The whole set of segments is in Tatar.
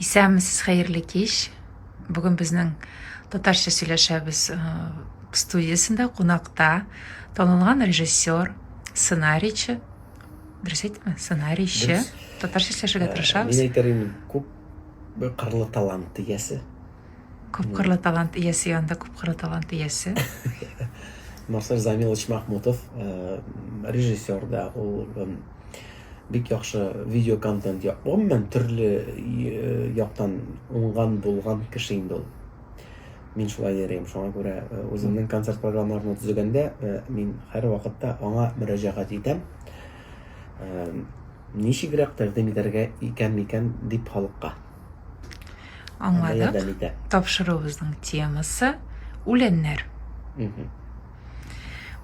Исәнмесез, хәерле кич. Бүген безнең татарча сөйләшәбез э, студиясендә кунакта танылган режиссер, сценарийчы, дөрес әйттемме? Сценарийчы. Татарча сөйләшергә э, тырышабыз. Мин әйтер идем, күп кырлы талант иясе. Күп кырлы талант иясе янында күп кырлы талант иясе. Марсель Замилович Махмутов, э, режиссер да, ул Бик яхшы видео контент я. Гомумән төрле яктан уңган булган кеше инде ул. Мин шулай йөрим. Шуңа күрә үземнең концерт программаларымны төзегәндә мин һәр вакытта аңа мөрәҗәгать итәм. Ничегрәк тәкъдим итәргә икән микән дип халыкка. Аңладык. Тапшыруыбызның темасы үләннәр. Угу.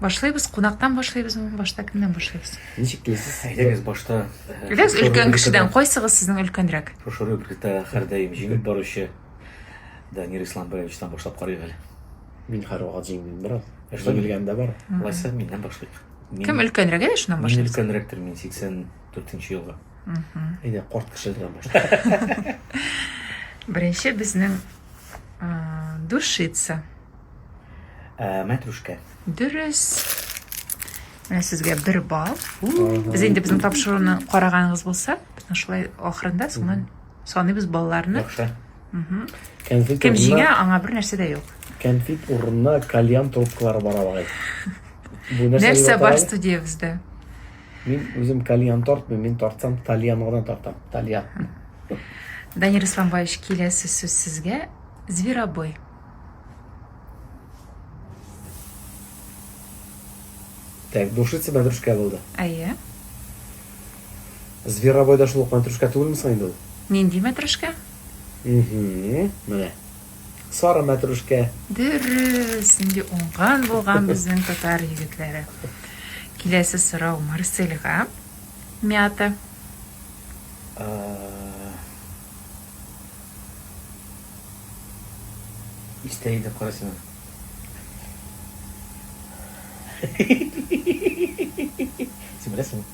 Башлыйбыз, кунактан башлыйбыз, башта кемнән башлыйбыз? Ничек телисез? Әйдәгез башта. Әйдәгез э, өлкән кешедән, кайсыгыз сезнең өлкәнрәк? Шушы рубрикта һәрдаим җиңеп баручы Данир Исламбаевичтан башлап карыйк әле. Мин һәрвакыт җиңдем бераз. Эшләп белгәндә бар. Лайса миннән башлыйк. Кем өлкәнрәк әле шуннан башлыйк? Мин өлкәнрәктер, мин 84 елга. Әйдә, корт кешеләрдән башлыйк. Беренче безнең душица. Ә, мәтрүшкә. Дөрес. Менә сезгә бер балл. Без инде безнең тапшыруны караганыгыз булса, безнең шулай ахырында соңыннан саныйбыз балларны. Яхшы. Кәнфит Кем урынына- җиңә, аңа бер нәрсә дә юк. Кәнфит урынына кальян трубкалары бара багай. Бу нәрсә Нәрсә дип бар атала? студиябездә? Мин үзем кальян тартмыйм, мин тартсам тальян гына тартам. Тальян. Данир Исламбаевич, киләсе сүз сезгә. Зверобой. Так, бушица мәтрүшкә булды. Әйе. Зверобой да шул ук мәтрүшкә түгелме соң инде ул? Нинди мәтрүшкә? Угу, менә. Сары мәтрүшкә. Дөрес, инде уңган булган безнең татар егетләре. Киләсе сорау Марсельга. Мята. Истә иде коры сиңа. Син беләсең.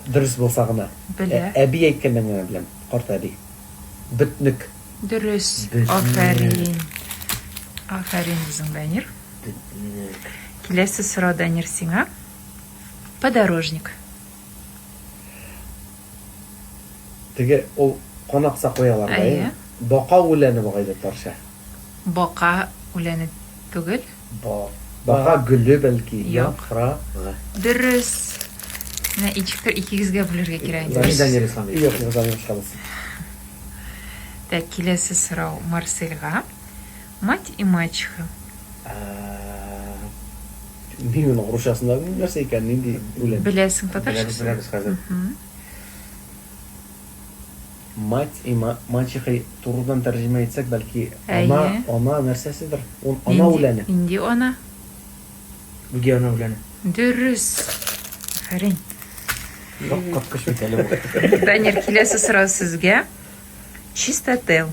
Дөрес булса гына. Белә. Әби әйткәннән генә беләм. Карт әби. Бөтнек. Дөрес. Афәрин. Афәрин үзең, Данир. Бөтнек. Киләсе сорау, Данир, сиңа. Подорожник. Теге ул кан акса куялар да әйе. Бака үләне бугай татарча. Бака үләне түгел. Бака гөле бәлки, яфрагы. Дөрес. Менә ичектер икегезгә бүлергә кирәк инде. Данил Данил Исламов. Юк, юк, Данил Исламов. Так, киләсе сорау Марселга. Мать и мачеха. Мин моның русчасын да белмим, нәрсә икән, нинди үлем? Беләсең, татарчасы? Беләбез хәзер. Мать и мачеха турыдан тәрҗемә итсәк, бәлки ана, ана нәрсәседер. Ул ана үләне. Нинди ана? Бүге ана үләне. Дөрес. Афәрин. Шок капкыч бит әле бу. Данир, киләсе сорау сезгә. Чистотел.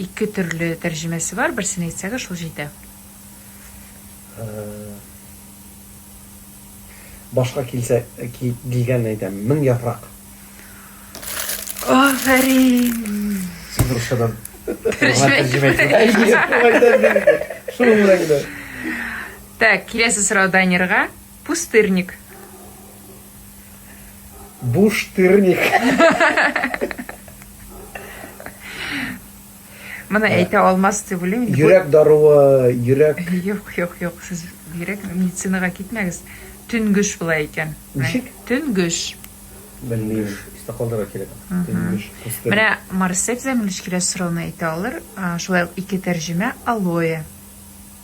Ике төрле тәрҗемәсе бар, берсен әйтсәгез, шул җитә. Башка килсә, килгәнне әйтәм. Мең яфрак. Афәрин! Сез русчадан тәрҗемә итегез. Шуның белән генә. Так, киләсе сорау Данирга. Пустырник. Буштырник. Моны әйтә алмас дип уйлыйм. Йөрәк даруы, йөрәк. Юк, юк, юк, сез йөрәк медицинага китмәгез. Төнгөш була икән. Ничек? Төнгөш. Белмим, истә калдырырга кирәк. Төнгөш. Менә Марсель замилич килә сорауны әйтә алыр. Шулай ук ике тәрҗемә алоэ.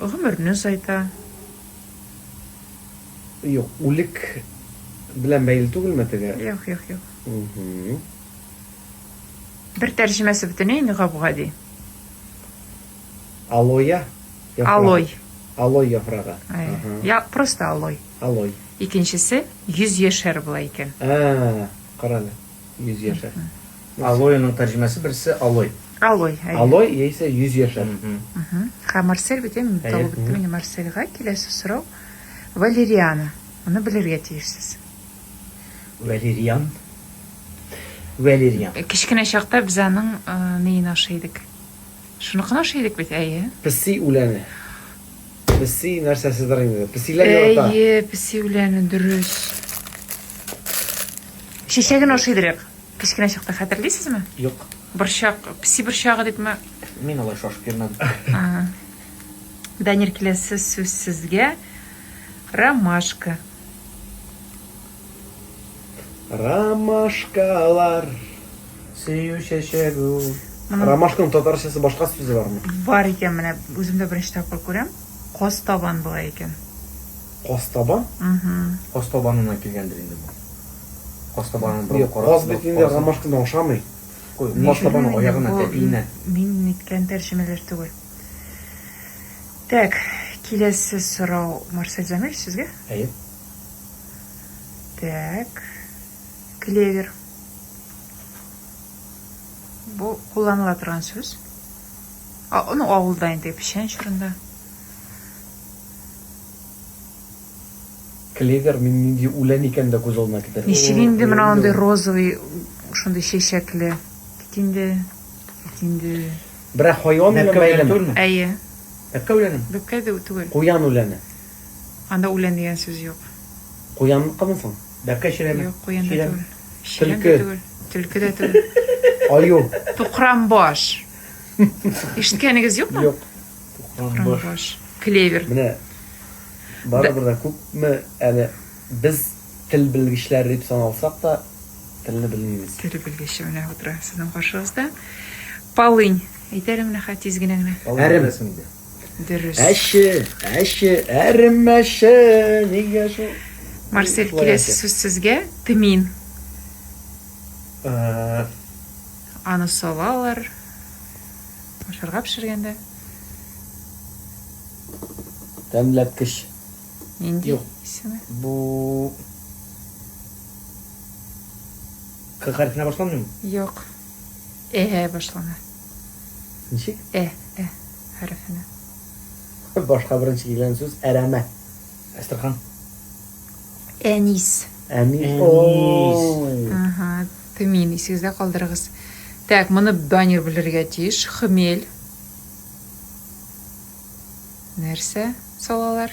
Гомерне озайта. Юк, үлек белән бәйле түгелме теге? Юк, юк, юк. Бер тәрҗемәсе бөтенләй инде гап-гади. Алоя. Алой. Алой яфрагы. Я просто алой. Алой. Икенчесе 100 яшәр була икән. А, карале. Йөз яшәр. Алоеның тәрҗемәсе берсе алой. Алой, әйе. Алой яисә йөз яшәр. Ха, Марсель бит, мин табып беттем инде Марсельга. Киләсе сорау. Валериана. Моны белергә тиешсез. Валериан. Валериан. Кечкенә чакта без аның неен ашый идек? Шуны кына ошый идек бит, әйе. Песи үләне. Песи нәрсәседер инде. Песиләр ярата. Әйе, песи үләне, дөрес. Чәчәген ашый идек. Кечкенә чакта хәтерлисезме? Юк. Борчак, песи борчагы дипме? Мин алай шашып йөрмәдем. Данир, киләсе сүз сезгә. Ромашка. Ромашкалар. Сөю чәчәк ул. Ромашканың татарчасы башка сүзе бармы? Бар икән менә, үзем дә беренче тапкыр күрәм. Костабан була икән. Костабан? Угу. Костабанына килгәндер инде бу. Костабанын бер карап. Каз бит инде ромашкадан ошамый. Костабан аягына тәпиенә. Мин ниткән тәрҗемәләр түгел. Так, киләсе сорау Марсель Замир сезгә? Әйе. Так. Клевер. Бу кулланыла торган сүз. А, ну, авылда инде печән чорында. Клевер мин нинди үлән икән дә күз алдына китерә. Ничек инде менә андый розовый шундый чәчәкле. Кит инде. Кит инде. Берәр хайван белән бәйлеме? Әйе. Бәккә үләне? Бәккә дә түгел. Куян үләне. Анда үлән дигән сүз юк. Куянныкымы соң? Бәбкә чирәме? Юк, куян да түгел. Чирәм дә түгел. Төлке дә түгел. Аю. Тукранбаш. Ишеткәнегез юкмы? Юк. Тукранбаш. Клевер. Менә барыбер дә күпме әле без тел белгечләре дип саналсак та, телне белмибез. Тел белгече менә утыра сезнең каршыгызда. Полынь. Әйтә әле менә хәтиз генә генә. Әрем. Дөрес. Әче, әче, әремәче, нигә шул? Марсель, киләсе сүз сезгә тмин. Э, Аны салалар. Ашарга пешергәндә. Тәмләткеч. Нинди Юк. исеме? Бу К хәрефенә башланмыймы? Юк. Э башлана. Ничек? Э, э хәрефенә. Башка беренче килгән сүз әрәмә. Әстерхан. Әнис. Әнис. Әнис. Ага, тымин, исегездә калдырыгыз. Так, моны баннер белергә тиеш. Хмель. Нәрсә салалар?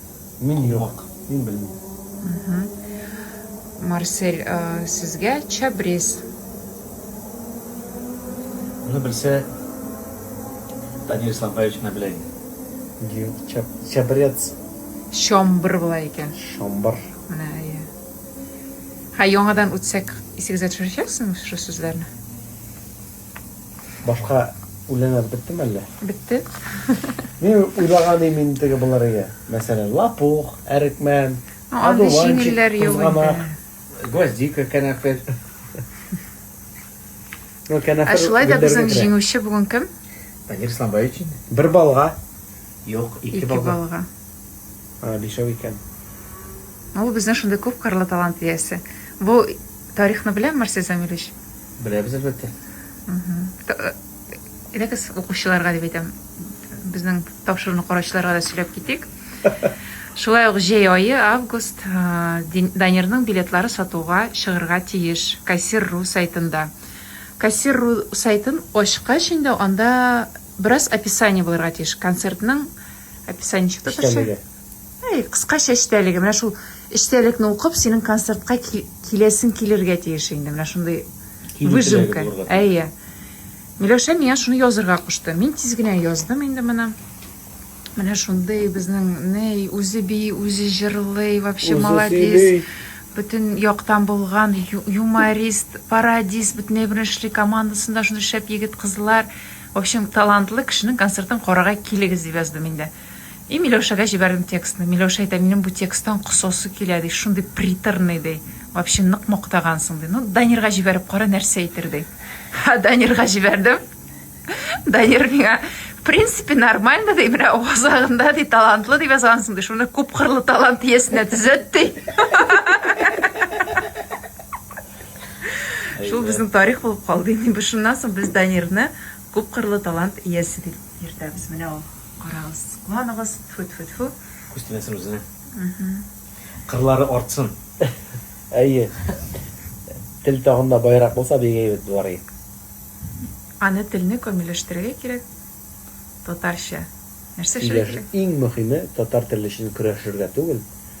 Мин юк, мин белмим. Марсель, сезгә чабрез. Моны белсә, Данил Исламбаевич менә белә инде. Чабрец. Чомбр була икән. Чомбр. Менә, әйе. Хә, яңадан үтсәк, исегезгә төшерәчәксезме шул сүзләрне? Башка үләннәр беттеме әллә? Бетте. Мин уйлаган идем инде теге булыр иде. Мәсәлән, лапух, әрекмән, Ну, андый одуванчик, җиңелләр юк кузганак, инде. гвоздика, кәнәфер. Ну, Ә кәнәфер шулай да гөлләргә безнең керә. җиңүче бүген кем? Данир Исламбаевич инде. Бер балга. Юк, ике Ике балга. балга. А, бишәү икән. Ул безнең шундый күп кырлы талант иясе. Бу Тарихны беләме Марсель Замилевич? Беләбез, әлбәттә. Әйдәгез, укучыларга дип әйтәм, безнең тапшыруны караучыларга да сөйләп китик. Шулай ук җәй айы, август, Данирның билетлары сатуга чыгырга тиеш Кассир.ру сайтында. Кассир.ру сайтын ачкач инде анда бераз описание булырга тиеш. Концертның описание чыкты. Эчтәлеге. Әй, кыскача эчтәлеге. Менә шул эчтәлекне укып, синең концертка киләсең килергә тиеш инде. Менә шундый выжимка. Әйе. Миләүшә миңа шуны язырга кушты. Мин тиз генә яздым инде моны. Менә шундый безнең ней үзе би, үзе җырлый, вообще молодец. Бөтен яктан булган юморист, пародист, бөтен беренчелек командасында шундый шәп егет кызлар. В общем, талантлы кешенең концертын карага килегез дип яздым инде. И Миләүшәгә җибәрдем текстны. Миләүшә әйтә, минем бу тексттан косасы килә, ди, шундый приторный, ди. Вообще нык мактагансың, ди. Ну, Данирга җибәреп кара, нәрсә әйтер, ди. Ха, Данирга җибәрдем. Данир миңа, в принципе, нормально, ди, менә авазагында, ди, талантлы дип язгансың, ди, шуны күп кырлы талант иясенә төзәт, ди. Шул безнең тарих булып калды. Инде шуннан соң без Данирны күп кырлы талант иясе дип йөртәбез. Менә ул. Карагыз, кыланыгыз, тфү-тфү-тфү. Күз тимәсен үзенә. Кырлары артсын. Әйе. Тел тагын да байрак булса, бик әйбәт булар иде. Аны телне камилләштерергә кирәк. Татарча нәрсә эшләргә кирәк? Иң мөһиме, татар теле өчен көрәшергә түгел,